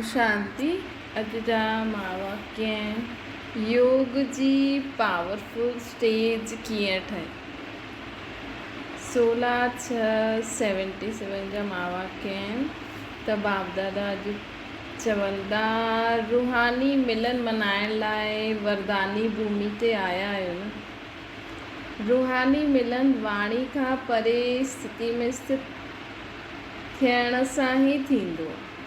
شانتي اڄ جا ماڻهو ڪيئن آهن؟ يوگ جي پاورفل اسٽيج ڪيئن ٺهي؟ سولا ڇهه سيونٽي سيون جا ماڻهو ڪيئن آهن ته باپ دادا اڄ چوندا روحاني ملن منائڻ لاء ورداني ڀومي تي آيا آهيو نه؟ روحاني ملن واڻي کان پري استتي ۾ استت ٿيڻ سان ئي ٿيندو.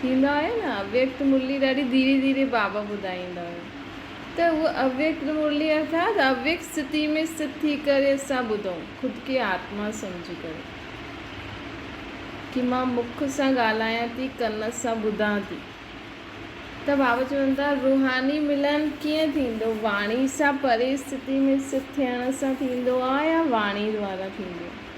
ٿيندو آهي نه اويڪت مرلي ڏاڍي ڌيري ڌيري بابا ٻڌائيندا هيا ته هوء اويڪت مرلي ارٿات اويڪت ستي ۾ ستت ٿي ڪري اسان ٻڌون خود کي آتما سمجهي ڪري ڪي مان مک سان ڳالهايان ٿي ڪن سان ٻڌان ٿي ته بابا چون ٿا روحاني ملن ڪيئن ٿيندو واڻي سان پري ستي ۾ ست ٿيڻ سان ٿيندو آهي يا واڻي دوارا ٿيندو آهي.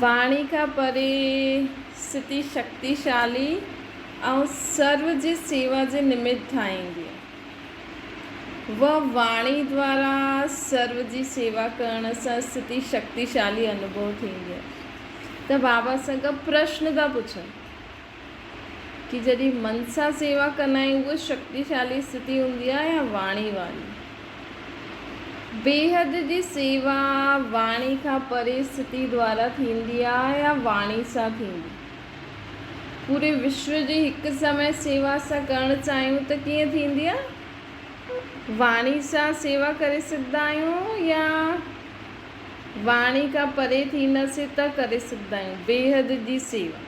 واڻي کان پري ستي شڪتيشالي ۽ سرو جي سيوا جي نمت ٺاهيندي و واڻي دوارا سرو جي سيوا ڪرڻ سان ستي شڪتيشالي انوڀو ٿيندي ته بابا سان ڪا پرشن ٿا پڇن ڪي جڏهن من سان سيوا ڪندا آهيون اهو شڪتيشالي استھتي هوندي آهي يا واڻي واري بيحد جي سيوا واڻي کان پري استھتي دوارا ٿيندي آهي يا واڻي سان ٿيندي پوري وشو جي هڪ سمي سيوا اسان ڪرڻ چاهيون ته ڪيئن ٿيندي آهي واڻي سان سيوا ڪري سگھدا آهيون يا واڻي کان پري ٿينداسين ته ڪري سگھدا آهيون بيحد جي سيوا.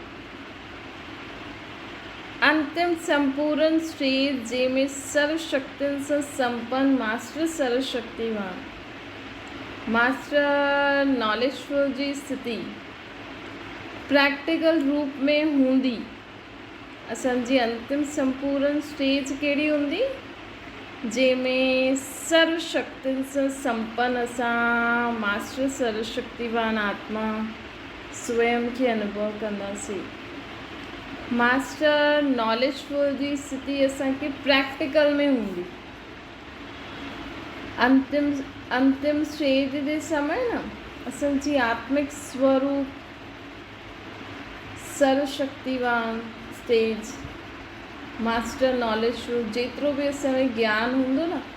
انتم سمپورن شرير جنهن ۾ سرو شڪتين سان سمپن ماسٽر سرو شڪتيوان ماسٽر ناليشفل جي استھتي پريڪٽيڪل روپ ۾ ھوندي اسان جي انتم سمپورن اسٽيج ڪھڙي ھوندي جنهن ۾ سرو شڪتين سان سمپن اسان ماسٽر سرو شڪتيوان آتما سوئم کي انوڀو ڪنداسين. ماسٽر ناليج فل جي استھتي اسان کي پريڪٽيڪل ۾ ھوندي. انتم انتم اسٽيج جي سمي نه اسان جي آتمڪ سوروپ سرو شڪتيوان استيج ماسٽر ناليج فل جيترو به اسان ۾ گيان ھوندو نه.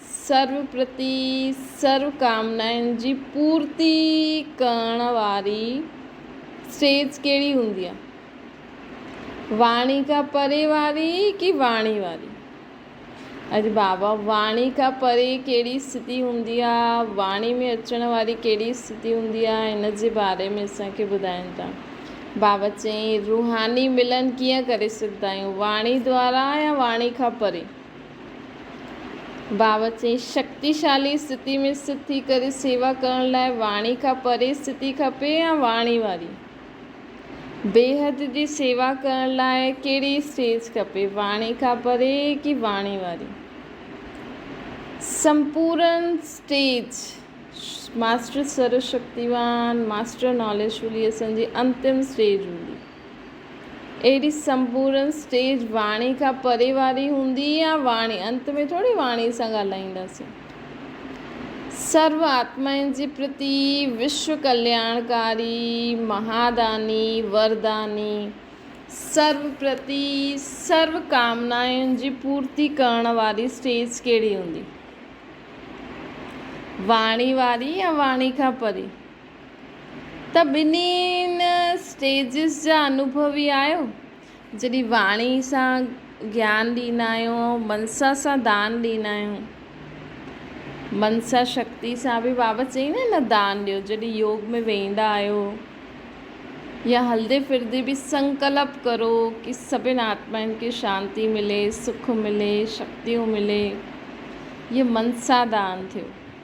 سرو پرتي سرو ڪامنائن جي پورتي ڪرڻ واري اسٽيج ڪهڙي هوندي آهي؟ واڻي کان پري واري ڪي واڻي واري؟ اري بابا واڻي کان پري ڪهڙي استٿي هوندي آهي؟ واڻي ۾ اچڻ واري ڪهڙي استٿي هوندي آهي؟ هن جي باري ۾ اسان کي ٻڌائين ٿا. بابا چيائين، روحاني ملن ڪيئن ڪري سگهندا آهيون؟ واڻي دوارا يا واڻي کان پري؟ بابت چيائين، شڪتيشالي استٿتي ۾ سٿ ٿي ڪري سيوا ڪرڻ لاء واڻي کان پري استٿتي کپي يا واڻي واري بيحد جي سيوا ڪرڻ لاء ڪهڙي اسٽيج کپي، واڻي کان پري ڪي واڻي واري سمپورن اسٽيج؟ ماسٽر سرو شڪتيوان، Master Knowledgefully، اسان جي انتم اسٽيج هوندي. اهڙي سمپورن اسٽيج واڻي کان پري واري هوندي يا واڻي انت ۾ ٿوري واڻي سان ڳالهائينداسين. سرو آتمائن جي پرتي وشو ڪلياڻڪاري مهاداني ورداني سرو پرتي سرو ڪامنائن جي پورتي ڪرڻ واري اسٽيج ڪهڙي هوندي؟ واڻي واري يا واڻي کان پري؟ ته ٻنهين اسٽيجز جا انوڀوي آهيو. جڏهن واڻي سان گيان ڏيندا آهيون ۽ منسا سان دان ڏيندا آهيون. منسا شڪتي سان به بابا چئي نه نه دان ڏيو. جڏهن يوگ ۾ ويهندا آهيو يا هلدي ڦردي به سنڪلپ ڪرو ڪي سڀن آتمائن کي شانتي ملي، سک ملي، شڪتيون ملي. هيء منسا دان ٿيو.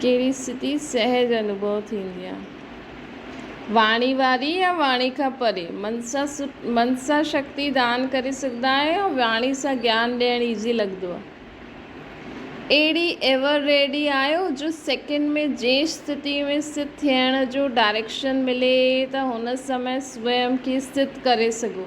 ڪهڙي استھتي سهج انوڀو ٿيندي آ؟ واڻي واري يا واڻي کان پري؟ من سان من سان شڪتي دان ڪري سگهندا آهيون يا واڻي سان گيان ڏيڻ ايزي لڳندو آ؟ اهڙي ايور ريڊي آهيو جو سيڪنڊ ۾ جنهن استھتي ۾ استھت ٿيڻ جو ڊائريڪشن ملي ته هن سمي سوئم کي استھت ڪري سگهو؟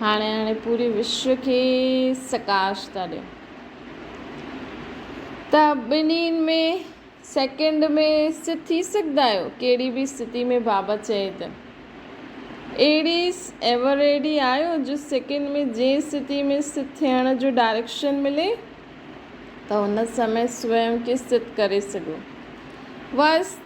هاڻي هاڻي پوري وشو کي سڪاش ٿا ڏين ته ٻنهين ۾ سيڪنڊ ۾ سٿ ٿي سگهندا آهيو ڪهڙي به استثتي ۾ بابا چئي ته اهڙي ايور ريڊي آهيو جو سيڪنڊ ۾ جنهن استثتي ۾ سٿ ٿيڻ جو ڊائريڪشن ملي ته ان سمي سوئم کي سٿ ڪري سگهو واس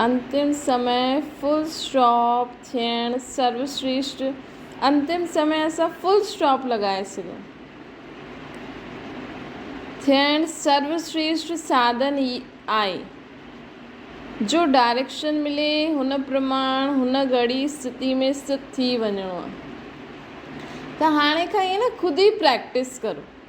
انتم سمي فل اسٽاپ ٿيڻ سروشريشٽ انتم سمي اسان فل اسٽاپ لڳائي سگهيو ٿيڻ سروشريشٽ ساڌن ئي آهي جو ڊائريڪشن ملي هن پرماڻ هن گهڙي استٿي ۾ استٿ ٿي وڃڻو آهي ته هاڻي کان ائين نه خود ئي پريڪٽس ڪرو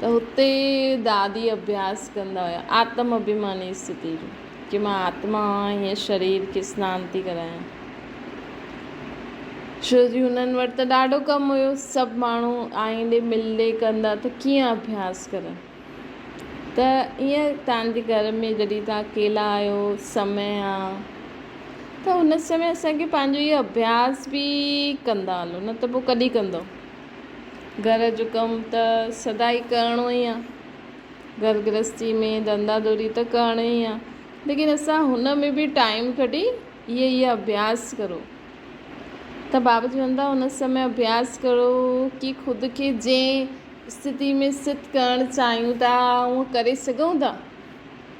ته هتي دادي اڀياس ڪندا هيا آتم اڀيماني استھتي جو جي مان آتما آهيان هيء شرير کي سنان ٿي ڪرايان ڇو جي هنن وٽ ته ڏاڍو ڪم هيو سڀ ماڻهو آئين ڏي مل ڏي ڪندا ته ڪيئن اڀياس ڪرن ته ايئن تان جي گهر ۾ جڏهن تان اڪيلا آهيو سمي آ ته هن سمي اسان کي پنهنجو هيء اڀياس به ڪندا هلو نه ته پوء ڪڏهن ڪندو گهر جو ڪم ته سدائين ڪرڻو ئي آ. گهر گرهستي ۾ ڌنڌا دوري ته ڪرڻي ئي آ. ليڪن اسان هن ۾ به ٽائيم ڪڍي اهي اهي اڀياس ڪرو ته بابا چون ٿا هن سمي اڀياس ڪرو ڪي خود کي جنهن استٿي ۾ سٿ ڪرڻ چاهيون ٿا اوهان ڪري سگهون ٿا.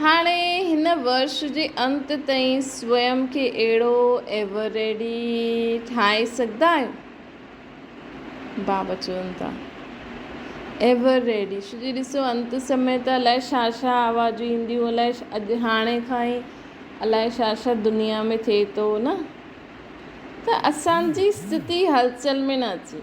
هاڻي هن ورش جي انت تائين سوئم کي اهڙو ايوريڊي ٺاهي سگهندا آهيو؟ بابا چون ٿا. ايوريڊي شجي ڏسو انت سمي ته الائي شا شا آوازون اينديون الائي اڄ هاڻي کان ئي الائي شا شا دنيا ۾ ٿئي ٿو نه ته اسان جي ستي هلچل ۾ نه اچي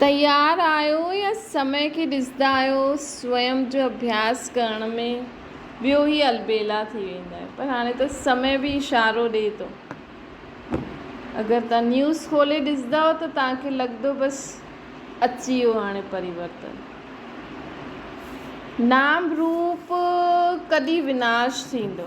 تيار آهيو يا سمي کي ڏسندا آهيو سوئم جو اڀياس ڪرڻ ۾ ٻيو هي البيلا ٿي ويندا آهيو پر هاڻي ته سمي به اشارو ڏي ٿو اگر تان نيوز کولي ڏسندا آهيو ته تان کي لڳندو بس اچي ويو هاڻي پريورتن نام روپ ڪڏي وناش ٿيندو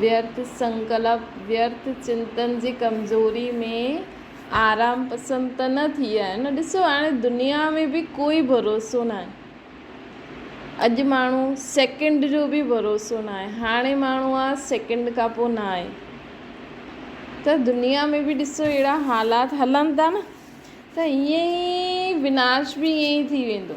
ويرت سنڪلپ، ويرت چنتن جي ڪمزوري ۾ آرام پسند ته نه ٿي ويا آهن. ڏسو هاڻي دنيا ۾ به ڪوئي ڀروسو ناهي. اڄ ماڻهو سيڪنڊ جو به ڀروسو ناهي. هاڻي ماڻهو آ سيڪنڊ کان پوء ناهي. ته دنيا ۾ به ڏسو اهڙا حالات هلن ٿا نه ته ائين ئي وناش به ائين ئي ٿي ويندو.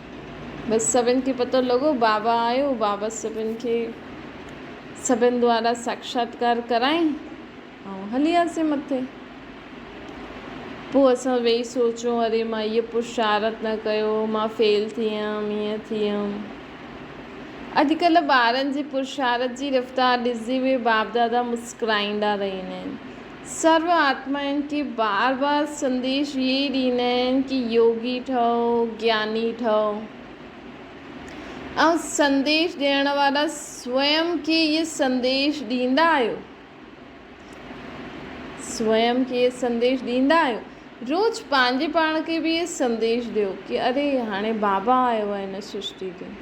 بس سڀن کي پتو لڳو بابا آيو، بابا سڀن کي سڀن دوارا ساکشاتڪار ڪرائين ۽ هلي آسين مٿي. پوء اسان ويهي سوچيون اري مان هيء پرشارت نه ڪيو، مان فيل ٿي ويم، ايئن ٿي ويم. اڄڪلهه ٻارن جي پرشارت جي رفتار ڏسجي وئي، باپ دادا مسڪرائيندا رهي ويندا آهن. سرو آتمائن کي بار بار سنديش اهي ئي ڏيندا آهن ڪي يوگي ٺهو، گياني ٺهو ۽ سنديش ڏيڻ وارا سوئم کي اهي سنديش ڏيندا آهيو، سوئم کي اهي سنديش ڏيندا آهيو، روز پنهنجي پاڻ کي به اهي سنديش ڏيو ڪي اري هاڻي بابا آيو آهي هن سرشتي تي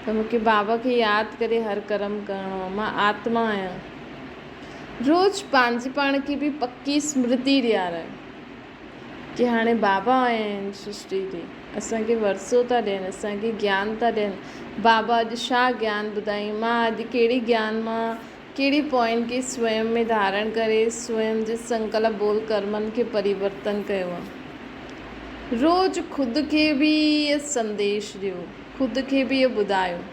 ته مونکي بابا کي ياد ڪري هر ڪرم ڪرڻو آهي مان آتما آهيان. روز پنهنجي پاڻ کي به پڪي اسمرتي ڏيارائي ڪي هاڻي بابا آيا آهن سرشٽي تي اسان کي ورثو ٿا ڏين اسان کي گيان ٿا ڏين بابا اڄ ڇا گيان ٻڌايائين مان اڄ ڪهڙي گيان مان ڪهڙي پوائن کي سوئم ۾ ڌارڻ ڪري سوئم جي سنڪلپ بول ڪرمن کي پريورتن ڪيو آهي روز خود کي به اهي سنديش ڏيو خود کي به اهو ٻڌايو.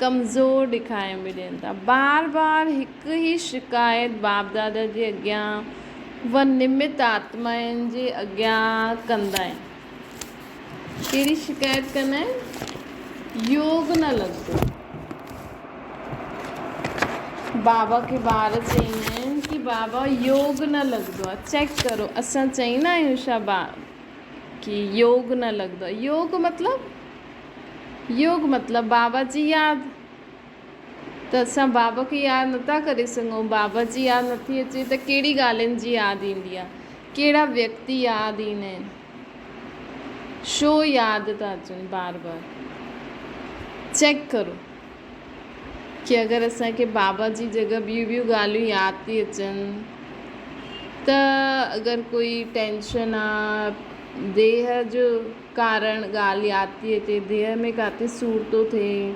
ڪمزور ڏيکاريون به ڏين ٿا. بار بار هڪ ئي شڪايت باپ دادا جي اڳيان و نمت آتمائن جي اڳيان ڪندا آهن. ڪهڙي شڪايت ڪندا آهن؟ يوگ نه لڳندو. بابا کي ٻار چئيندا آهن ڪي بابا يوگ نه لڳندو آهي چيڪ ڪرو اسان چئيندا آهيون ڇا با ڪي يوگ نه لڳندو آهي يوگ مطلب يوگ مطلب بابا جي ياد ته اسان بابا کي ياد نٿا ڪري سگهون بابا جي ياد نٿي اچي ته ڪهڙي ڳالهين جي ياد ايندي آهي ڪهڙا ويڪتي ياد ايندا آهن شو ياد ٿا اچن بار بار چيڪ ڪرو ڪي اگر اسان کي بابا جي جڳهه ٻيون ٻيون ڳالهيون ياد ٿي اچن ته اگر ڪوئي ٽينشن آهي ديهه جو ڪارڻ، ڳالهه ياد ٿي اچي، ديهه ۾ ڪاٿي سور ٿو ٿئي،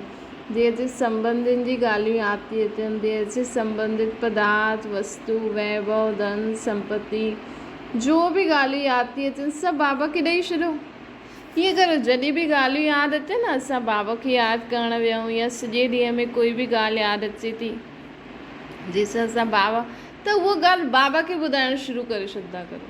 ديهه جي سنٻنڌين جي ڳالهيون ياد ٿي اچن، ديهه سي سنٻنڌت پدارٿ، وستو، ويڀو، ڌن، سمپتي، جو به ڳالهيون ياد ٿي اچن، سڀ بابا کي ڏئي ڇڏو. ائين ڪريو، جڏهن به ڳالهيون ياد اچن، اسان بابا کي ياد ڪرڻ ويهون يا سڄي ڏينهن ۾ ڪوئي به ڳالهه ياد اچي ٿي، جنهن سان اسان بابا، ته اها ڳالهه بابا کي ٻڌائڻ شروع ڪري ڇڏندا ڪريو.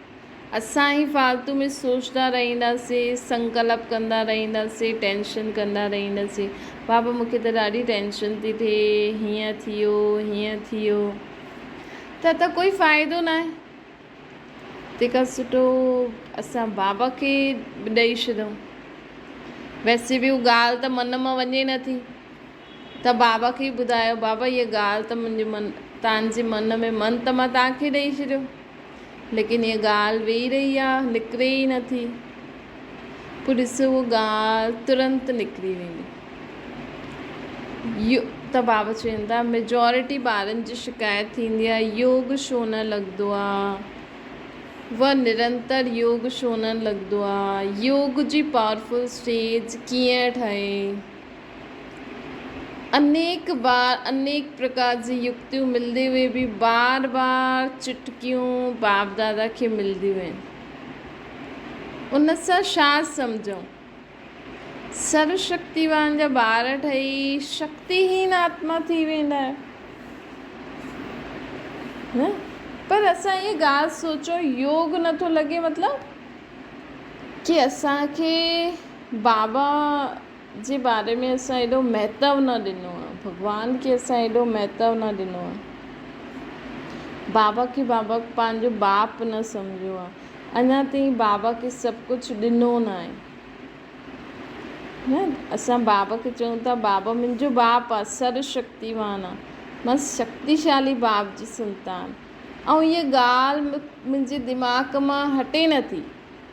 اسان هي فالتو ۾ سوچندا رهنداسين، سنڪلپ ڪندا رهنداسين، ٽينشن ڪندا رهنداسين. بابا مون کي ته ڏاڍي ٽينشن ٿي ٿئي، هيئن ٿيو، هيئن ٿيو. ته ته ڪوئي فائدو ناهي. تنهن کان سٺو اسان بابا کي ڏئي ڇڏيون. ويسي به هو ڳالهه ته من مان وڃي نٿي. ته بابا کي ٻڌايو، بابا هيء ڳالهه ته منهنجي من، تان جي من ۾ من ته مان تان کي ڏئي ڇڏيو، ليڪن هيء ڳالهه ويهي رهي آ، نڪري ئي نه ٿي. پوء ڏس هوء ڳالهه ترنت نڪري ويندي. يو، ته بابا چون ٿا، ميجارٽي ٻارن جي شڪايت ٿيندي آ، يوگ شو نه لڳندو آ؟ و، نرنتر يوگ شو نه لڳندو آ؟ يوگ جي پاورفل اسٽيج ڪيئن ٺهي؟ انيڪ بار انيڪ پرڪار جون يڪتيون ملندي هئي به بار بار چٽڪيون باپ دادا کي ملنديون آهن. ان سان ڇا سمجهون؟ سرو شڪتيوان جا ٻار ٺهي شڪتي هين آتما ٿي ويندا آهيون. پر اسان هيء ڳالهه سوچڻ يوگ نٿو لڳي مطلب ڪي اسان کي بابا جي باري ۾ اسان ايڏو مهتو نه ڏنو آ ڀڳوان کي اسان ايڏو مهتو نه ڏنو آ بابا کي بابا پنهنجو باپ نه سمجهيو آ اڃان تائين بابا کي سڀ ڪجهه ڏنو نه آهي ها اسان بابا کي چئون ٿا بابا منهنجو باپ آ سر شڪتيوان آ مان شڪتيشالي باپ جي سنتان ۽ هيء ڳالهه منهنجي دماغ مان هٽي نه ٿي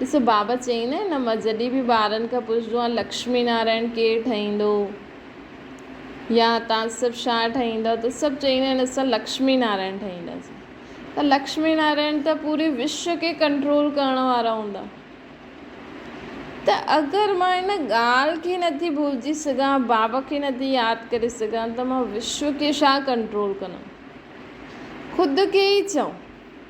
ڏس بابا چيئي نه نه مان جڏهن به ٻارن کان پڇندو آهيان لڪشمي نارائڻ ڪير ٺاهيندو يا توهان سڀ ڇا ٺاهيندا ته سڀ چيئي نه آهن اسان لڪشمي نارائڻ ٺاهينداسين ته لڪشمي نارائڻ ته پوري وشو کي ڪنٽرول ڪرڻ وارا هوندا ته اگر مان ان ڳالهه کي نٿي ڀلجي سگهان بابا کي نٿي ياد ڪري سگهان ته مان وشو کي ڇا ڪنٽرول ڪندم خود کي ئي چئو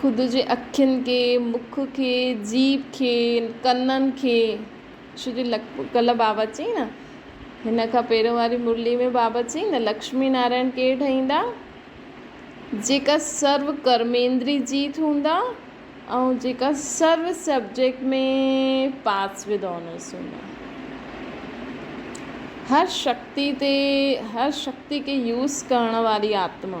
خود جي اکين کي، مک کي، جيڀ کي، ڪنن کي شو جي لک ڪلهه بابا چيائين نه هن کان پهريون واري مرلي ۾ بابا چيائين نه لڪشمي نارائڻ ڪير ٺهيندا جيڪا سرو ڪرميندري جيت هوندا ۽ جيڪا سرو سبجيڪٽ ۾ پاس ود آنرس هوندا هر شڪتي تي هر شڪتي کي يوز ڪرڻ واري آتما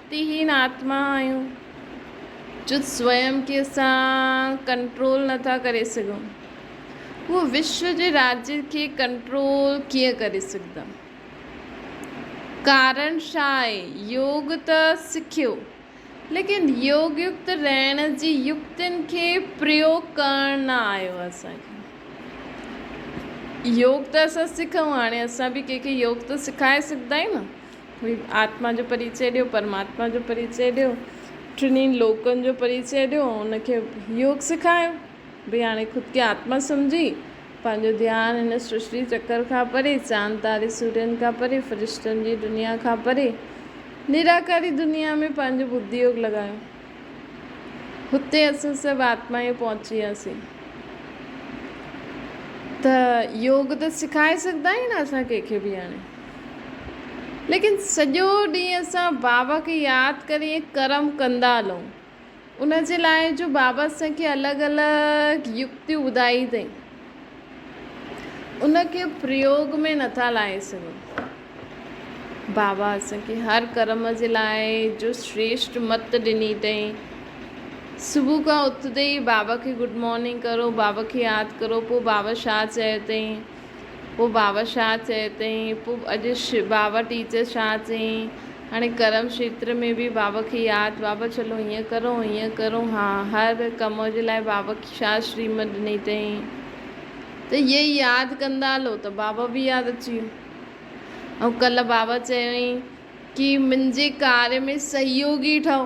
ڪرتيهين آتما آهيون جو سويم کي اسان ڪنٽرول نه ٿا ڪري سگهون، هو وشو جي راڄ کي ڪنٽرول ڪيئن ڪري سگهندا؟ ڪارڻ ڇا آهي؟ يوگ ته سکيو، ليڪن يوگ يڪت رهڻ جي يڪتين کي پريوگ ڪرڻ نه آيو آهي اسان کي. يوگ ته اسان سکون، هاڻي اسان به ڪنهن کي يوگ ته سکائي سگهندا آهيون نه. ڀلي آتما جو پريچئ ڏيو، پرماتما جو پريچئ ڏيو، ٽنهي لوڪن جو پريچئ ڏيو ۽ ان کي يوگ سکايو. ڀي هاڻي خود کي آتما سمجهي پنهنجو ڌيان هن سرشٽي چڪر کان پري، چاند تاري سورين کان پري، فرشتن جي دنيا کان پري، نراڪاري دنيا ۾ پنهنجو ٻڌي يوگ لڳايو. هتي اسان سڀ آتمايون پهچي وياسين ته يوگ ته سکائي سگهندا آهيون نه اسان ڪنهن کي ڀي هاڻي. ليڪن سڄو ڏينهن اسان بابا کي ياد ڪري ائين ڪرم ڪندا هلون. ان جي لاء جو بابا اسان کي الڳ الڳ يڪتيون ٻڌائي اٿائين، ان کي پريوگ ۾ نٿا لاهي سگهون. بابا اسان کي هر ڪرم جي لاء جو شريشٽ مت ڏني اٿائين. صبح کان اٿندي ئي بابا کي گڊ مارننگ ڪرو، بابا کي ياد ڪرو، پوء بابا ڇا چيو اٿائين. پوء باور شاهه چيو تائين، پوء اڄ باور ٽيچر شاهه چيائين، هاڻي ڪرم شيتر ۾ به باور کي ياد، بابا چلو هيئن ڪرون هيئن ڪرون ها، هر ڪم جي لاء باور کي شاهه شريمت ڏني تائين ته اهي ئي ياد ڪندا هلو ته باور به ياد اچي ويو ۽ ڪلهه باور چيائين ڪي منهنجي ڪاري ۾ سهيوگي ٺهو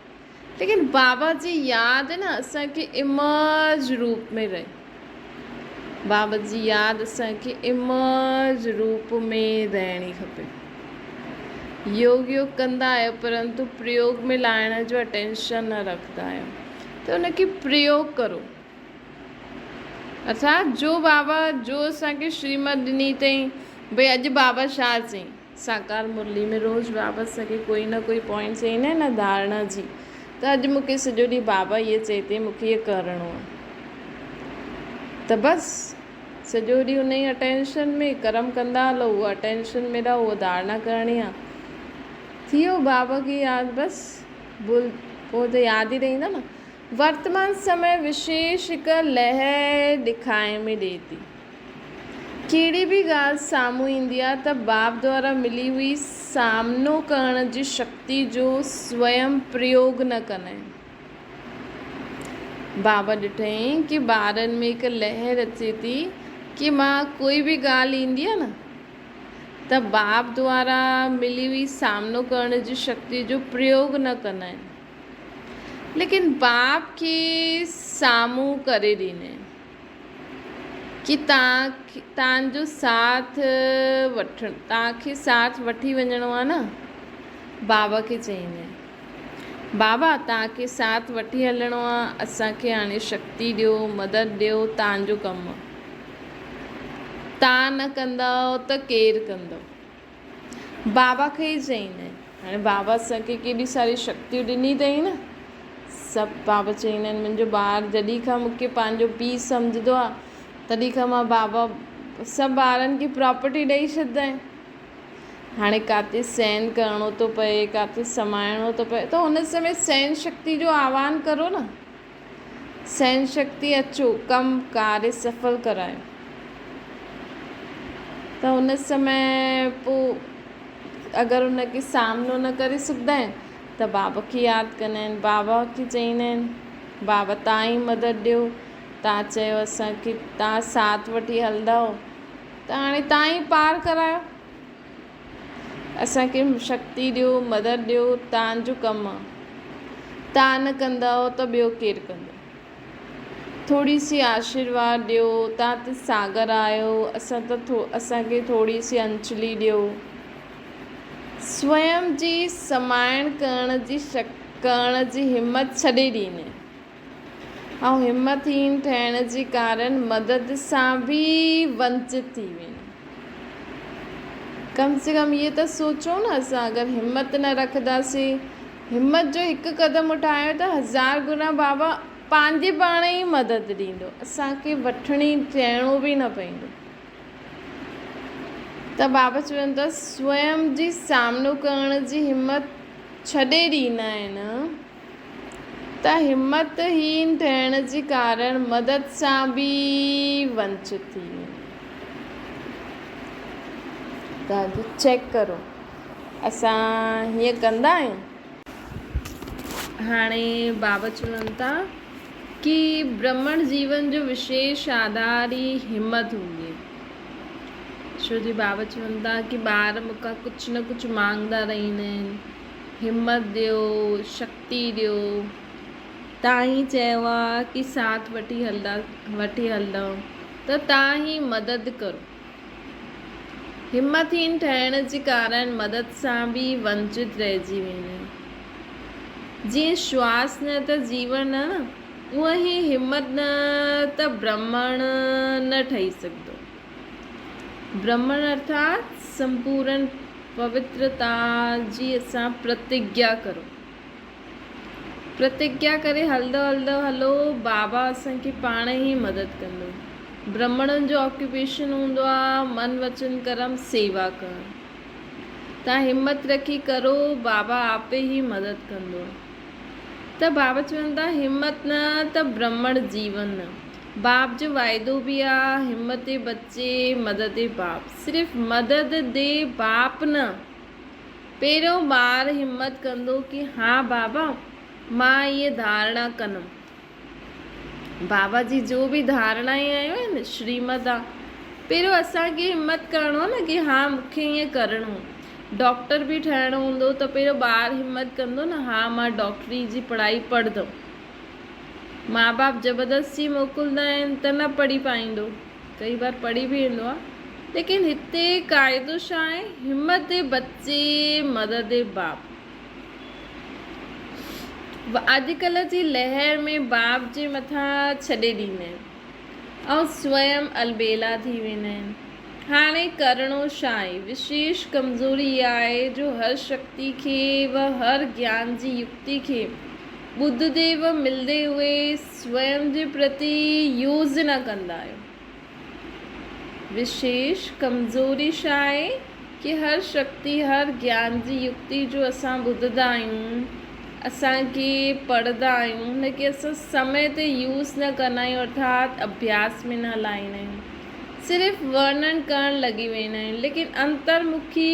ليڪن بابا جي ياد نه اسان کي امرج روپ ۾ رهي بابا جي ياد اسان کي امرج روپ ۾ رهڻي کپي يوگ يوگ ڪندا آهيو پرنتو پريوگ ۾ لائڻ جو اٽينشن نه رکندا آهيو ته ان کي پريوگ ڪرو اسان جو بابا جو اسان کي شريمت ڏني تائين ڀي اڄ بابا شاهه سين ساڪار مرلي ۾ روز بابا سگهي ڪوئي نه ڪوئي پوائنٽ چئي نه هن ڌارڻا جي ته اڄ مون کي سڄو ڏينهن بابا هيء چئي تي مون کي هيء ڪرڻو آهي ته بس سڄو ڏينهن ان ئي اٽينشن ۾ ڪرم ڪندا هلو هوء اٽينشن ۾ رهو هوء ڌارڻا ڪرڻي آهي ٿي ويو بابا کي ياد بس بل پوء ته ياد ئي رهيندا نه ورتمان سمي وشيش هڪ لهه ڏکائي ۾ ڏي ٿي. ڪهڙي به ڳالهه سامهون ايندي آهي ته باب دوارا ملي هئي سامنو ڪرڻ جي شڪتي جو سويم پريوگ نه ڪندائين. باب ڏٺائين ڪي ٻارن ۾ هڪ لهر اچي ٿي ڪي مان ڪوئي به ڳالهه ايندي آهي نه ته باب دوارا ملي هئي سامنو ڪرڻ جي شڪتي جو پريوگ نه ڪندائين ليڪن باب کي سامهون ڪري ڏيندائين. ڪي تان تان جو ساٿ وٺ تان کي ساٿ وٺي وڃڻو آ نه بابا کي چئيندي بابا تان کي ساٿ وٺي هلڻو آ اسان کي هاڻي شڪتي ڏيو مدد ڏيو تان جو ڪم تان نه ڪندؤ ته ڪير ڪندو. بابا کي ئي چئين آهن. هاڻي بابا اسان کي ڪيڏي ساري شڪتيون ڏني اٿئي نه. سڀ بابا چئين آهن. منهنجو ٻار جڏهن کان مون کي پنهنجو پيء سمجهندو آهي تڏهن کان مان بابا سڀ ٻارن کي پراپرٽي ڏئي ڇڏيندائين. هاڻي ڪاٿي سين ڪرڻو ٿو پئي ڪاٿي سمائڻو ٿو پئي ته هن سمي سين شڪتي جو آواهن ڪرو نه. سهن شڪتي اچو ڪم ڪار سڦل ڪرايو ته ان سمهي پو اگر ان کي سامنو نه ڪري سگهندا آهن ته بابا کي ياد ڪندا آهن بابا کي چئيندا آهن بابا تان ئي مدد ڏيو تان چيو اسان کي تان ساٿ وٺي هلندا هو ته هاڻي تان ئي پار ڪرايو اسان کي شڪتي ڏيو مدد ڏيو تان جو ڪم تان نه ڪندؤ ته ٻيو ڪير ڪندو ٿوري سي آشيرواد ڏيو تان ته ساگر آهيو اسان ته ٿو اسان کي ٿوري سي انچلي ڏيو سوئم جي سمائڻ ڪرڻ جي شڪ ڪرڻ جي همت ڇڏي ڏيني ۽ همت هين ٿيڻ جي ڪارڻ مدد سان به ونچت ٿي ويندو. ڪم سي ڪم اهو ته سوچيو نه اسان اگر همت نه رکنداسين، همت جو هڪ قدم اٺايو ته هزار گنا بابا پنهنجي پاڻ ئي مدد ڏيندو، اسان کي وٺڻي چئڻو به نه پوندو. ته بابا چون ٿا سوئم جي سامنو ڪرڻ جي همت ڇڏي ڏيندا آهن. ته همت هين ٿيڻ جي ڪارڻ مدد سان به ونچ ٿي ويندو. چيڪ ڪرو اسان هيئن ڪندا آهيون. هاڻي بابا چون ٿا ڪي برهمڻ جيون جو وشيش آڌار ئي همت هوندي ڇو جي بابا چون ٿا ڪي ٻار مون کان ڪجهه نه ڪجهه مانگدا رهندا آهن همت ڏيو شڪتي ڏيو. تان هي چيو آ ڪي ساٿ وٺي هلدا وٺي هلدؤن ته تان هي مدد ڪرو. همت هين ٺهڻ جي ڪارڻ مدد سان به ونچت رهجي ويندو آهي. جيئن شواس نه ته جيون نه اونئن هي همت نه ته برهمڻ نه ٺهي سگهندو. برهمڻ ارٿات سمپورن پوترتا جي اسان پرتگيا ڪرون. پرتگيا ڪري هلندو هلندو هلو بابا اسان کي پاڻ ئي مدد ڪندو. برهمڻن جو آڪيوپيشن هوندو آ من وچن ڪرم سيوا ڪرڻ. تان همت رکي ڪرو بابا آپي ئي مدد ڪندو. ته بابا چون ٿا همت نه ته برهمڻ جيون نه. باب جو واعدو به آ، همت بچي مدد باب. صرف مدد دي باپ نه، پهريون ٻار همت ڪندو ڪي ها بابا مان اهي ڌارڻا ڪنم. بابا جي جو به ڌارڻا ۽ آيون آهن شريمت آ. پهريون اسان کي همت ڪرڻو آ نه ڪي ها مون کي ائين ڪرڻو. ڊاڪٽر به ٺهڻو هوندو ته پهريون ٻار همت ڪندو نه ها مان ڊاڪٽري جي پڙهائي پڙهدم. ماء باپ زبردستي موڪلندا آهن ته نه پڙهي پائيندو ڪئي بار پڙهي به ايندو آهي ليڪن هتي قاعدو ڇا آهي همت بچي مدد باپ اڄڪلهه جي لهر ۾ باپ جي مٿان ڇڏي ڏيندا آهن ۽ سوئم البيلا ٿي ويندا آهن هاڻي ڪرڻو ڇا آهي وشيش ڪمزوري اها آهي جو هر شڪتي کي و هر گيان جي يڪتي کي ٻڌ ديو ملندي اهي سوئم جي پرتي يوز نه ڪندا آهيون. وشيش ڪمزوري ڇا آهي ڪي هر شڪتي هر گيان جي يڪتي جو اسان ٻڌدا آهيون اسان ڪي پڙهدا آهيون هن کي اسان سمي تي يوز نه ڪندا آهيون ارٿات اڀياس ۾ نه هلائيندا آهيون صرف ورنن ڪرڻ لڳي ويندا آهيون ليڪن انتر مکي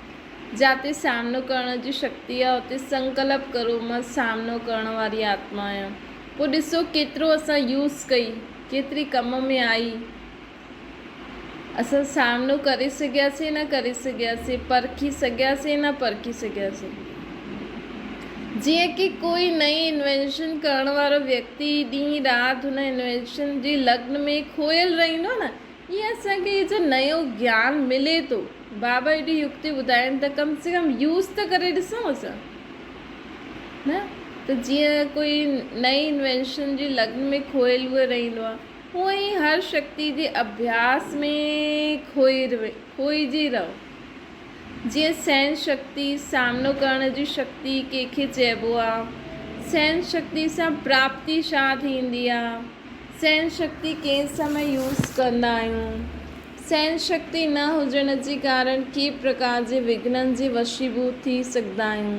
جاتي سامنو ڪرڻ جي شڪتي آهي اتي سنڪلپ ڪرو مان سامنو ڪرڻ واري آتما آهيان پوء ڏسو ڪيترو اسان يوز ڪئي ڪيتري ڪم ۾ آئي اسان سامنو ڪري سگهياسين نه ڪري سگهياسين پرکي سگهياسين نه پرکي سگهياسين جيئن ڪي ڪوئي نئين انوينشن ڪرڻ وارو ويڪتي ڏينهن رات هن انوينشن جي لگن ۾ کوهيل رهندو آهي نه ائين اسان کي جو نيو گيان ملي ٿو. بابا ايڏي يڪتي ٻڌائين ته ڪم سي ڪم يوز ته ڪري ڏسون اسان نه ته جيئن ڪوئي نئين انوينشن جي لگن ۾ کوئي لوئي رهندو آهي هونئن ئي هر شڪتي جي اڀياس ۾ کوئي روي کوئجي رهو جيئن سهن شڪتي سامنو ڪرڻ جي شڪتي ڪنهن کي چئبو آهي سهن شڪتي سان پراپتي شا ٿيندي آهي. سهن شڪتي ڪئين سمي يوز ڪندا آهيون؟ سهن شڪتي نه هجڻ جي ڪارڻ ڪي پرڪار جي وگهنن جي وشيڀوت ٿي سگهندا آهيون.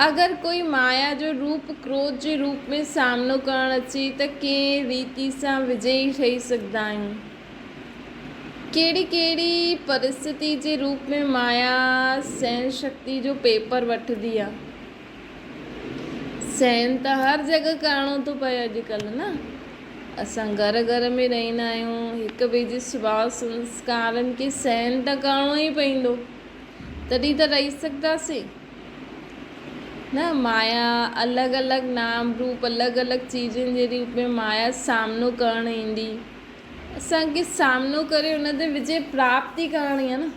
اگر ڪوئي مايا جو روپ ڪروڌ جي روپ ۾ سامنو ڪرڻ اچي ته ڪئين ريتي سان وجئي ٺهي سگهندا آهيون. ڪهڙي ڪهڙي پرستتي جي روپ ۾ مايا سهن شڪتي جو پيپر وٺندي آهي. سين ته هر جڳهه ڪرڻو ٿو پئي اڄڪلهه نه. اسان گهر گهر ۾ رهندا آهيون، هڪ ٻئي جي سڀاء سنسڪارن کي سين ته ڪرڻو ئي پوندو، تڏهن ته رهي سگهنداسين نه. مايا الڳ الڳ نام روپ، الڳ الڳ چيزن جي روپ ۾ مايا سامنو ڪرڻ ايندي. اسان کي سامنو ڪري ان تي وجي پراپتي ڪرڻي آهي نه.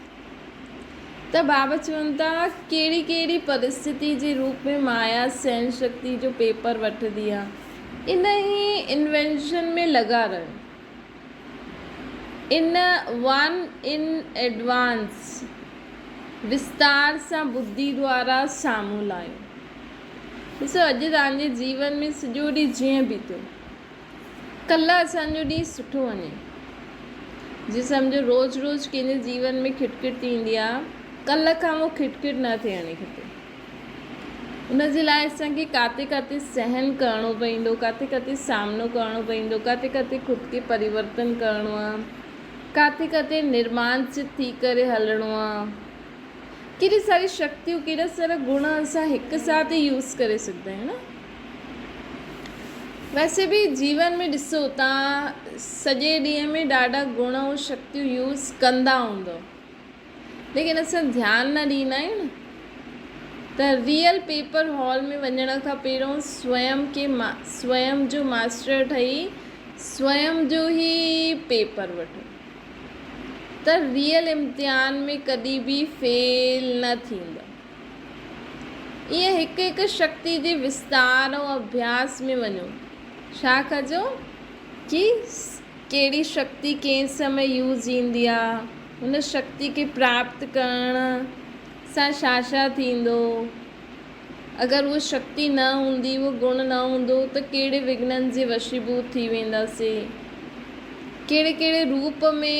ته بابا چون ٿا ڪهڙي ڪهڙي پرستتي جي روپ ۾ مايا سهڻ شڪتي جو پيپر وٺندي آ ان هي انوينشن ۾ لڳا رهيو ان ون ان ايڊوانس وستار سان ٻڌي دوارا سامهون لايو ڏسو اڄ تهانجي جيون ۾ سڄو ڏينهن جيئن بيتيو. ڪلا اسان جو ڏينهن سٺو وڃي جي سمجهو روز روز ڪنهن جي جيون ۾ کٽ کٽ ٿي ويندي آ ڪل کان اهو کٽ کٽ نه ٿيڻي کپي ان جي لاء اسان کي ڪاتي ڪاتي سهن ڪرڻو پوندو ڪاتي ڪاتي سامنو ڪرڻو پوندو ڪاتي ڪاتي خود کي پريورتن ڪرڻو آ ڪاتي ڪاتي نرمان چت ٿي ڪري هلڻو آ ڪيڏي ساري شڪتيون ڪيڏا سارا گڻ اسان هڪ ساٿ يوز ڪري سگهندا آهيون نه ويسي به جيون ۾ ڏسو توهان سڄي ڏينهن ۾ ڏاڍا گڻ ۽ شڪتيون يوز ڪندا هوندو ليڪن اسان ڌيان نه ڏيندا آهيون نه ته ريئل پيپر هال ۾ وڃڻ کان پهريون سوئم کي سوئم جو ماستر ٺهي سوئم جو هي پيپر وٺو ته ريئل امتحان ۾ ڪڏي به فيل نه ٿيندو ائين هڪ هڪ شڪتي جي وستار ۽ اڀياس ۾ وڃو. ڇا ڪجو؟ ڪي ڪهڙي شڪتي ڪنهن سمي يوز ايندي آ، هن شڪتي کي پراپت ڪرڻ سان ڇا ڇا ٿيندو، اگر اها شڪتي نه هوندي، اهو گڻ نه هوندو ته ڪهڙي وگهنن جي وشيڀوت ٿي وينداسين. ڪهڙي ڪهڙي روپ ۾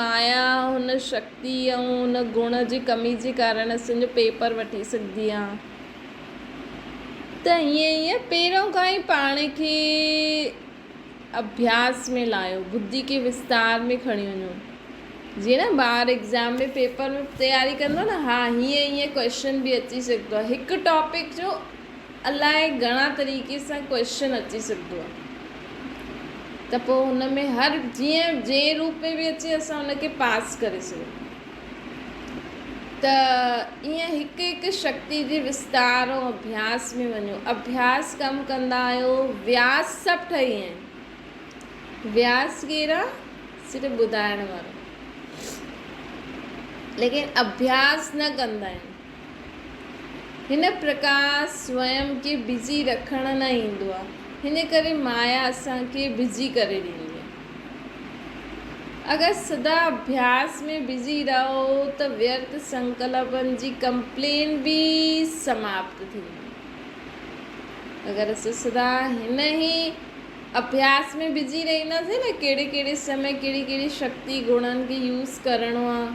مايا هن شڪتي. تي آئون ان گڻ جي ڪمي جي ڪارڻ سين جو پيپر وٺي سگهندي آهيان ته هيئن هيئن پهريون کان ئي پاڻ کي اڀياس ۾ لاهيو، بدي کي وستار ۾ کڻي وڃو. جيئن نه ٻار ايگزام ۾ پيپر ۾ تياري ڪندو نه ها هيئن هيئن ڪويشچن به اچي سگهندو آهي هڪ ٽاپڪ جو الاء گهڻا طريقي سان ڪويشچن اچي سگهندو آ ته پوء هن ۾ هر جيئن جنهن روپ ۾ به اچي اسان ان کي پاس ڪري سگهون ته ايئن هڪ هڪ شڪتي جي وستار ۽ اڀياس ۾ وڃو اڀياس ڪم ڪندا آهيو وياس سڀ ٺهي ويا آهن وياس ڪير آ صرف ٻڌائڻ وارو ليڪن اڀياس نه ڪندا آهن هن پرڪار سوئم کي بزي رکڻ نه ايندو آهي. هن ڪري مايا اسان کي بزي ڪري ڏيندي آهي. اگر سدا اڀياس ۾ بزي رهو ته ويرت سنڪلپن جي ڪمپلين به سماپت ٿيندي. اگر اسان سدا هن ئي اڀياس ۾ بزي رهنداسين نه ڪهڙي ڪهڙي سمي ڪهڙي ڪهڙي شڪتي گڻن کي يوز ڪرڻو آهي.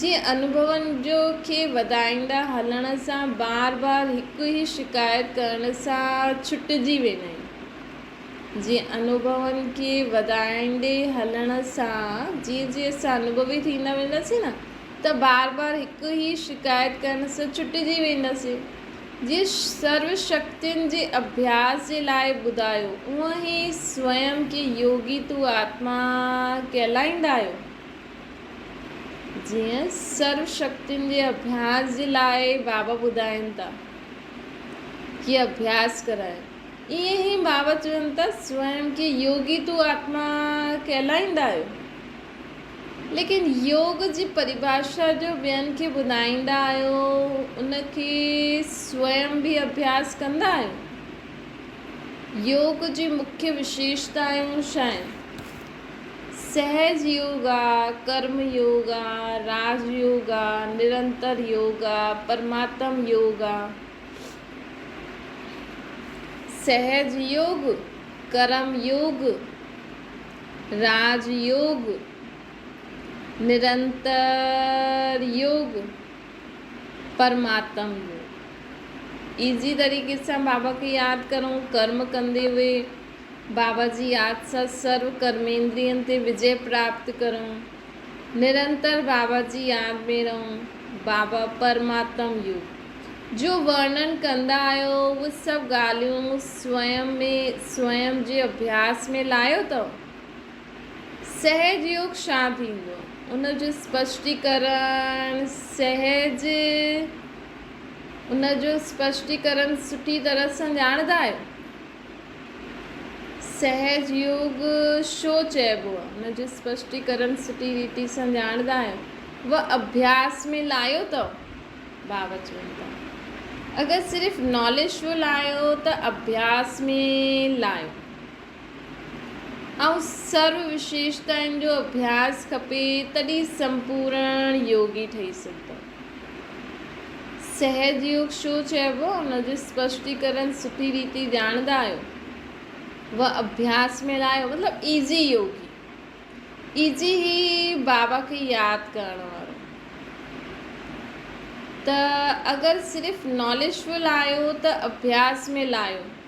جي انوڀون جو کي وڌائيندا هلڻ سان بار بار هڪ ئي شڪايت ڪرڻ سان ڇٽجي ويندا آهن جي انوڀون کي وڌائيندي هلڻ سان جيئن جيئن اسان انوڀوي ٿيندا وينداسين نه ته بار بار هڪ ئي شڪايت ڪرڻ سان ڇٽجي وينداسين جيئن سرو شڪتين جي اڀياس جي لاء ٻڌايو اونئن ئي سوئم کي يوگي تون آتما ڪهلائيندا آهيو. جيئن سرو شڪتين جي اڀياس جي لاء بابا ٻڌائين ٿا ڪي اڀياس ڪرائين ايئن ئي بابا چون ٿا سوئم کي يوگي تو آتما ڪهلائيندا آهيو ليڪن يوگ جي پريڀاشا جو ٻين کي ٻڌائيندا آهيو ان کي سوئم به اڀياس ڪندا آهيو يوگ جي مکيه وشيشتائون ڇا آهن سهج يوگا، ڪرم يوگا، راج يوگا، نرنتر يوگا، پرماتم يوگا. سهج يوگ، ڪرم يوگ، راج يوگ، نرنتر يوگ، پرماتم يوگ. ايزي طريقي سان بابا کي ياد ڪرون ڪرم ڪندي هئي. بابا جي ياد سان سرو ڪرميندرين تي وجي پراپت ڪرون، نرنتر بابا جي ياد ۾ رهون، بابا پرماتم يو جو ورنن ڪندا آهيو اهي سڀ ڳالهيون سوئم ۾ سوئم جي اڀياس ۾ لاهيو ٿو سهج يوگ شان ٿيندو ان جو اسپشٽيڪرڻ سهج ان جو اسپشٽيڪرڻ سٺي طرح سان ڄاڻندا آهيو. سهج يوگ شو چئبو آهي ان جو اسپشٽيڪرڻ سٺي ريتي سان ڄاڻندا آهيون و اڀياس ۾ لايو اتئو باوچ ويندا اگر صرف ناليج شو لايو ته اڀياس ۾ لايو ۽ سرو وشيشتائن جو اڀياس کپي تڏهن سمپورڻ يوگي ٺهي سگهندو. سهجيوگ شو چئبو ان جو اسپشٽيڪرن سٺي ريتي ڄاڻندا آهيو و اڀياس ۾ لايو مطلب ايزي يوگي ايزي هي بابا کي ياد ڪرڻ وارو ته اگر صرف ناليج لايو ته اڀياس ۾ لايو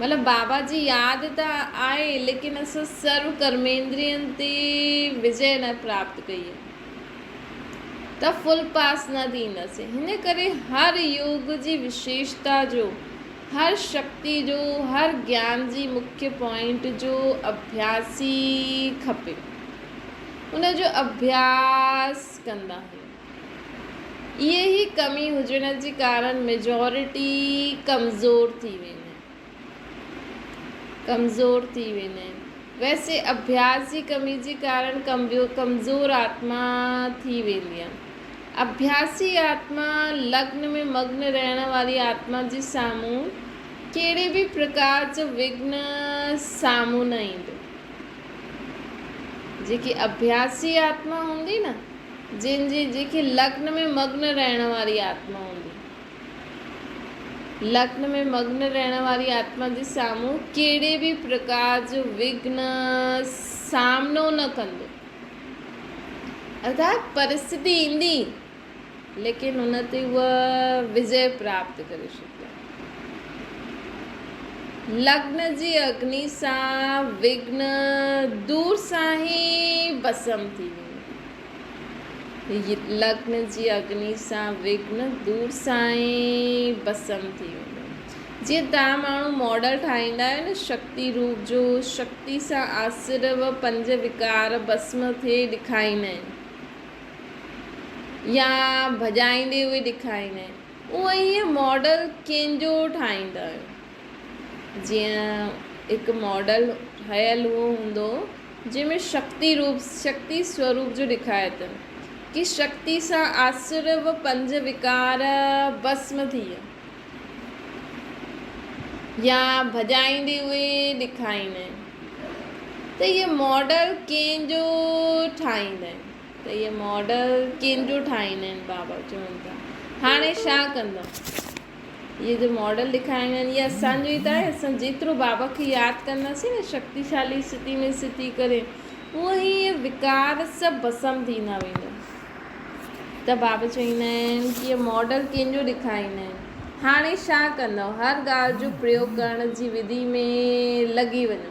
مطلب بابا جي ياد ته آئي ليڪن اسان سرو ڪرميندرين تي وجئي نه پراپت ڪئي ته فل پاس نه ٿينداسين هن ڪري هر يوگ جي وشيشتا جو هر شڪتي جو هر گيان جي مکي پوائنٽ جو اڀياسي کپي ان جو اڀياس ڪندا هيون. اهي ئي ڪمي هجڻ جي ڪارڻ ميجارٽي ڪمزور ٿي ويني. ڪمزور ٿي ويني. ويسي اڀياس جي ڪمي جي ڪارڻ ڪمزور آتما ٿي ويندي آ. اڀياسي آتما لگن ۾ مگن رهڻ واري آتما جي سامهون ڪهڙي به پرڪار جو وگهن سامهون نه ايندو. جيڪي اڀياسي آتما هوندي نه. جن جي جنهن کي لگن ۾ مگن رهڻ واري آتما هوندي. لگن ۾ مگن رهڻ واري آتما جي سامهون ڪهڙي به پرڪار جو وگهن سامنو نه ڪندو. ارٿات پرستتي ايندي ليڪن ان تي هوء وجئي پراپت ڪري ڇڏيندي. لگن جي اگني سان وگهن دور سان ئي ڀسم ٿي ويندي. لگن جي اگني سان وگن دور سائين ڀسم ٿي ويندو. جيئن توهان ماڻهو ماڊل ٺاهيندا آهيو نه شڪتي روپ جو، شڪتي سان آسر و پنج وڪار ڀسم ٿئي ڏيکاريندا آهن يا ڀڄائيندي اهي ڏيکاريندا آهن، اونئين ماڊل ڪنهن جو ٺاهيندا آهيو؟ جيئن هڪ ماڊل ٺهيل اهو هوندو جنهن ۾ شڪتي روپ، شڪتي سوروپ جو ڏيکاري ٿو ڪي شڪتي سان آسر و پنج وڪار ڀسم ٿئي يا ڀڄائيندي اهي ڏيکاريندي ته هي ماڊل ڪنهن جو ٺاهيندي ته هي ماڊل ڪنهن جو ٺاهيندي بابا چون ٿا هاڻي شا ڪندو. اهي جو ماڊل ڏيکاريا ويا آهن اهي اسان جو ئي ته آهي اسان جيترو بابا کي ياد ڪنداسين نه شڪتيشالي سٿي ۾ سٿي ڪري هونء ئي اهي وڪار سڀ ڀسم ٿيندا ويندا ته بابا چويندا آهن ته اهي ماڊل ڪنهن جو ڏيکاريندا آهن هاڻي ڇا ڪندؤ هر ڳالهه جو پريوگ ڪرڻ جي وڌي ۾ لڳي وڃو.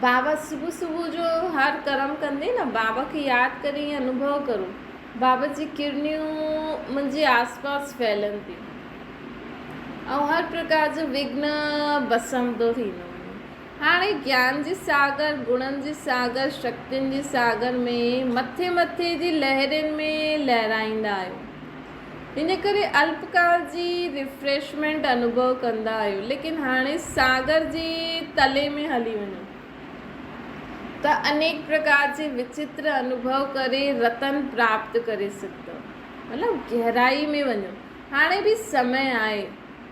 بابا صبح صبح جو هر ڪرم ڪندي نه بابا کي ياد ڪري ائين انوڀو ڪرو بابا جي ڪرڻيون منهنجي آس پاس ڦهلن ٿيون ۽ هر پرڪار جو وگهن ڀسمندو ٿيندو وڃي هاڻي گيان جي ساگر گڻن جي ساگر شڪتين جي ساگر ۾ مٿي مٿي جي لهرين ۾ لهرائيندا آهيو ان ڪري الپ ڪال جي ريفريشمينٽ انوڀو ڪندا آهيو ليڪن هاڻي ساگر جي تلي ۾ هلي وڃو ته انيڪ پرڪار جي وچتر انوڀو ڪري رتن پراپت ڪري سگهندؤ مطلب گهرائي ۾ وڃو هاڻي به سمي آهي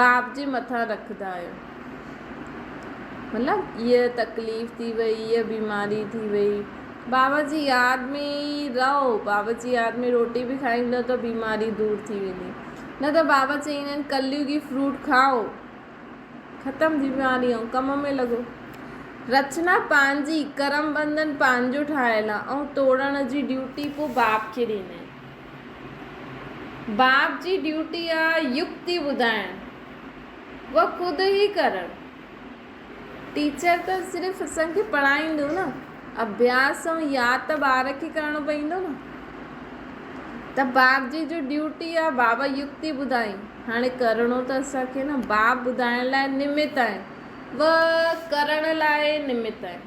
باب جي مٿان رکندا آهيون مطلب هيء تڪليف ٿي وئي هيء بيماري ٿي وئي بابا جي ياد ۾ ئي رهو بابا جي ياد ۾ روٽي به کائيندو ته بيماري دور ٿي ويندي نه ته بابا چئيندا آهن ڪليوگي فروٽ کائو ختم بيماري ۽ ڪم ۾ لڳو رچنا پنهنجي ڪرم بندن پنهنجو ٺاهيل آهي ۽ توڙڻ جي ڊيوٽي پوء باب کي ڏيندا آهن باپ جي ڊيوٽي آ يڪتي ٻڌائڻ و خود هي ڪرڻ. ٽيچر ته صرف اسان کي پڙهائيندو نه اڀياس ۽ ياد ته ٻار کي ڪرڻو پوندو نه ته باپ جي جو ڊيوٽي آ بابا يڪتي ٻڌائين هاڻي ڪرڻو ته اسان کي نه باپ ٻڌائڻ لاء نمت آهن و ڪرڻ لاء نمت آهن.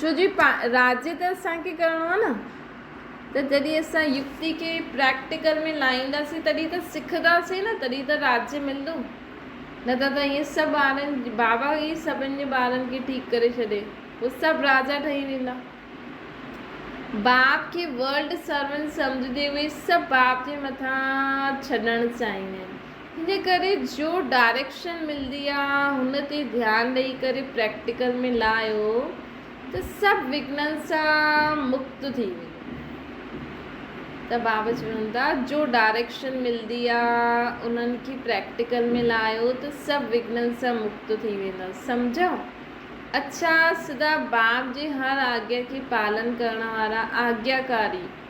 ڇو جو راڄ ته اسان کي ڪرڻو آهي نه ته جڏهن اسان يڪتي کي پريڪٽيڪل ۾ لائينداسين تڏهن ته سکنداسين نه تڏهن ته راڄ ملندو نه ته ته ائين سڀ ٻارن بابا ئي سڀن جي ٻارن کي ٺيڪ ڪري ڇڏي پوء سڀ راجا ٺهي ويندا. باب کي ورلڊ سرونٽ سمجهندي اهي سڀ باب جي مٿان ڇڏڻ چاهيندا آهن ان ڪري جو ڊائريڪشن ملندي آ هن تي ڌيان ڏئي ڪري پريڪٽيڪل ۾ لاهيو ته سڀ وگهنن سان مڪت ٿي ويندو ته بابا چون ٿا جو ڊائريڪشن ملندي آ انهن کي پريڪٽيڪل ۾ لاهيو ته سڀ وگهنن سان مڪت ٿي ويندو سمجهيو اڇا سڌا باب جي هر آگيا کي پالن ڪرڻ وارا آگياڪاري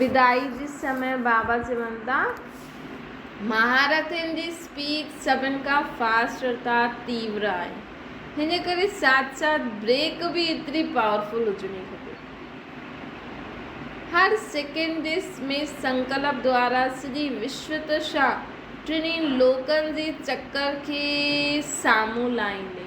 بدائي جي سمهي بابا چون ٿا. مهارٿين جي اسپيڊ سڀن کان فاسٽ رفتار تيور آهي هن ڪري ساٿ ساٿ بريڪ به ايتري پاورفل هجڻي کپي هر سيڪنڊ جي ۾ سنڪلپ دوارا سڄي وشو ترشا ٽنهي لوڪن جي چڪر کي سامهون لائيندي.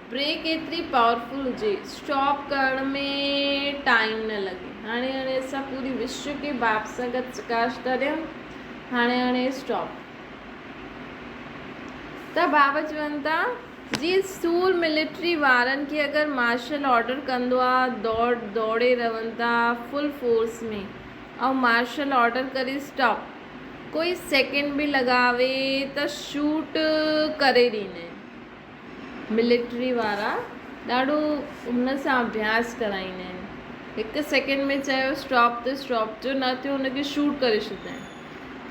بريڪ ايتري پاورفل هجي اسٽاپ ڪرڻ ۾ ٽائيم نه لڳي هاڻي هاڻي اسان پوري وشو کي باپ سان گڏ سڪاش ٿا ڏيون هاڻي هاڻي اسٽاپ ته بابا چون ٿا جي سور ملٽري وارن کي اگر مارشل آرڊر ڪندو آ دوڙ دوڙي رهن ٿا فل فورس ۾ ۽ مارشل آرڊر ڪري اسٽاپ ڪوئي سيڪنڊ به لڳاوي ته شوٽ ڪري ڏينئن ملٽري وارا ڏاڍو هن سان اڀياس ڪرائيندا آهن هڪ سيڪنڊ ۾ چيو اسٽاپ ته اسٽاپ جو نه ٿيو ان کي شوٽ ڪري ڇڏيندا آهن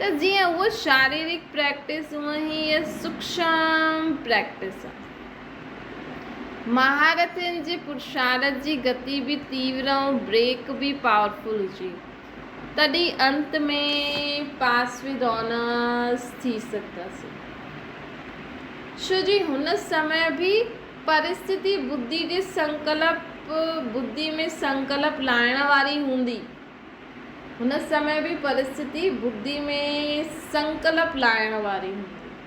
ته جيئن هو شاريرڪ پريڪٽس هونء هي هيء سوڪشم پريڪٽس آهي مهارٿين جي پرشارت جي گتي به تيور ۽ بريڪ به پاورفل هجي تڏهن انت ۾ پاس ود آنرس ٿي سگهنداسين ڇو جو هن سمهي به پرستتي ٻڌي جي سنڪلپ ٻڌي ۾ سنڪلپ لاهڻ واري هوندي هن سمهي به پرستتي ٻڌي ۾ سنڪلپ لاهڻ واري هوندي.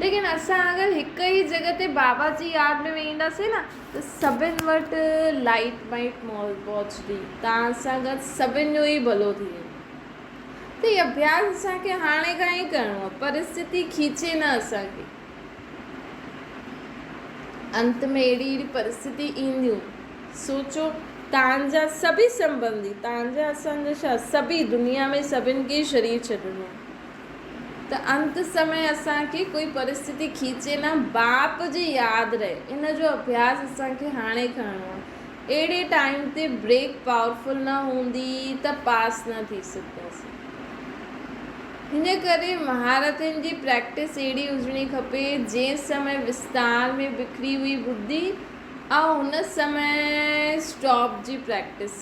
ليڪن اسان اگر هڪ ئي جڳھ تي بابا جي ياد ۾ ويهنداسين نه ته سڀن وٽ لائيٽ وائيٽ پهچندي تان سان گڏ سڀن جو ئي ڀلو ٿي ويندو ته هي اڀياس اسان کي هاڻي کان ئي ڪرڻو آهي پرستتي کيچي نه اسان کي انت ۾ اهڙي اهڙي پرستتي اينديون سوچو تان جا سڀئي سنبندي تان جا اسان جا ڇا سڀئي دنيا ۾ سڀن کي شرير ڇڏڻو آهي ته انت سمي اسان کي ڪوئي پرستتي کيچي نه باپ جي ياد رهي ان جو اڀياس اسان کي هاڻي ڪرڻو آهي اهڙي ٽائيم تي بريڪ پاورفل نه هوندي ته پاس نه ٿي سگهنداسين ان ڪري مهارتن جي پريڪٽس اهڙي هجڻي کپي جنهن سمي وستار ۾ بکري هئي ٻڌي ۽ هن سمي اسٽاپ جي پريڪٽس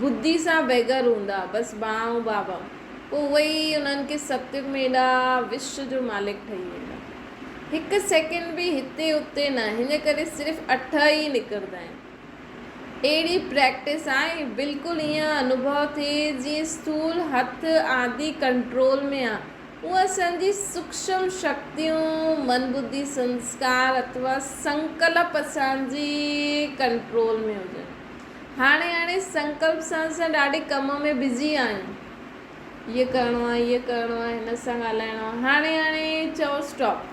ٻڌي سان بيگهر هوندا، بس ڀاء ۽ بابا، پوء اهي ئي انهن کي ستيگ ۾ ايڏا وش جو مالڪ ٺهي ويندا. هڪ سيڪنڊ به هتي اتي نه، هن ڪري صرف اٺ ئي نڪرندا آهن. اهڙي پريڪٽس آهي، بلڪل ايئن انوڀو ٿئي جيئن اسٿول هٿ آدي ڪنٽرول ۾ آهن. اهي اسان جي سوڪشم شڪتيون، من ٻڌي سنسڪار اٿوا سنڪلپ اسان جي ڪنٽرول ۾ هجن. هاڻي هاڻي سنڪلپ سان سان ڏاڍي ڪم ۾ بزي آهيون هيء ڪرڻو آهي هيء ڪرڻو آهي هن سان ڳالهائڻو آهي هاڻي هاڻي چئو اسٽاپ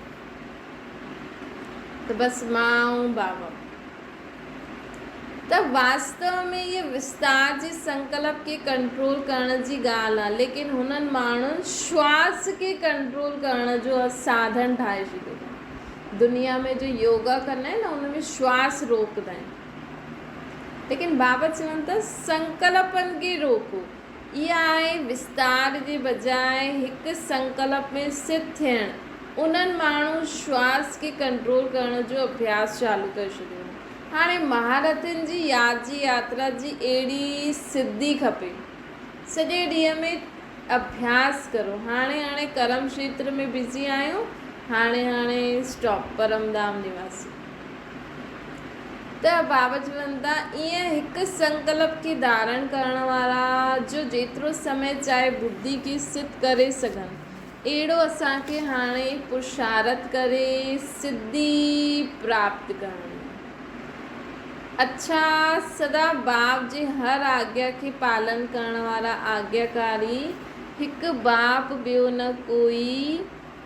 ته بس مان ۽ بابا ته واستو ۾ هيء وستار جي سنڪلپ کي ڪنٽرول ڪرڻ جي ڳالهه آهي ليڪن هنن ماڻهن شواس کي ڪنٽرول ڪرڻ جو ساڌن ٺاهي ڇڏيو اٿن دنيا ۾ جو يوگا ڪندا آهن نه ان ۾ شواس روڪدا آهن ليڪن بابت چون ته سنڪلپن کي روڪو. اها آهي وستار جي بجاء هڪ سنڪلپ ۾ سٿ ٿيڻ. انهن ماڻهن شواس کي ڪنٽرول ڪرڻ جو اڀياس چالو ڪري ڇڏيو هو. هاڻي مهارٿين جي ياد جي ياترا جي اهڙي سڌي کپي. سڄي ڏينهن ۾ اڀياس ڪرو. هاڻي هاڻي ڪرم کيتر ۾ بزي آهيون. هاڻي هاڻي اسٽاپ. پرمڌام نواسي. ته باوجوندا ائين هڪ سنڪلپ کي ڌارڻ ڪرڻ وارا جو جيترو سمي چاهي ٻڌي کي سڌ ڪري سگهن، اهڙو اسان کي هاڻي پرشارت ڪري سڌي پراپت ڪرڻي آهي. اڇا سدا باب جي هر آگيا کي پالن ڪرڻ وارا آگياڪاري هڪ باب ٻيو نه ڪوئي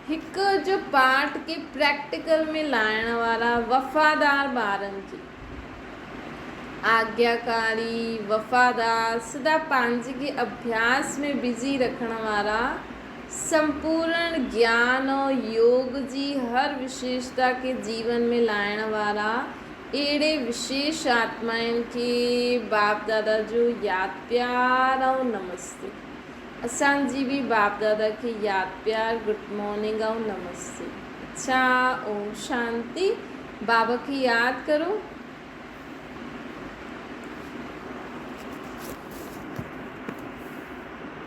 هڪ اڄ پاٺ کي پريڪٽيڪل ۾ لاهڻ وارا وفادار ٻارن جي آجياڪاري وفادار سدا پنهنجي کي اڀياس ۾ بزي رکڻ وارا سمپورڻ گيان ۽ يوگ جي هر وشيشتا کي جيون ۾ لاهڻ وارا اهڙي وشيش آتمائن کي باپ دادا جو ياد پيار ۽ نمستي. اسان جي به باپ دادا کي ياد پيار گڊ مارننگ ائون نمستي اڇا اوم شانتي بابا کي ياد ڪرو.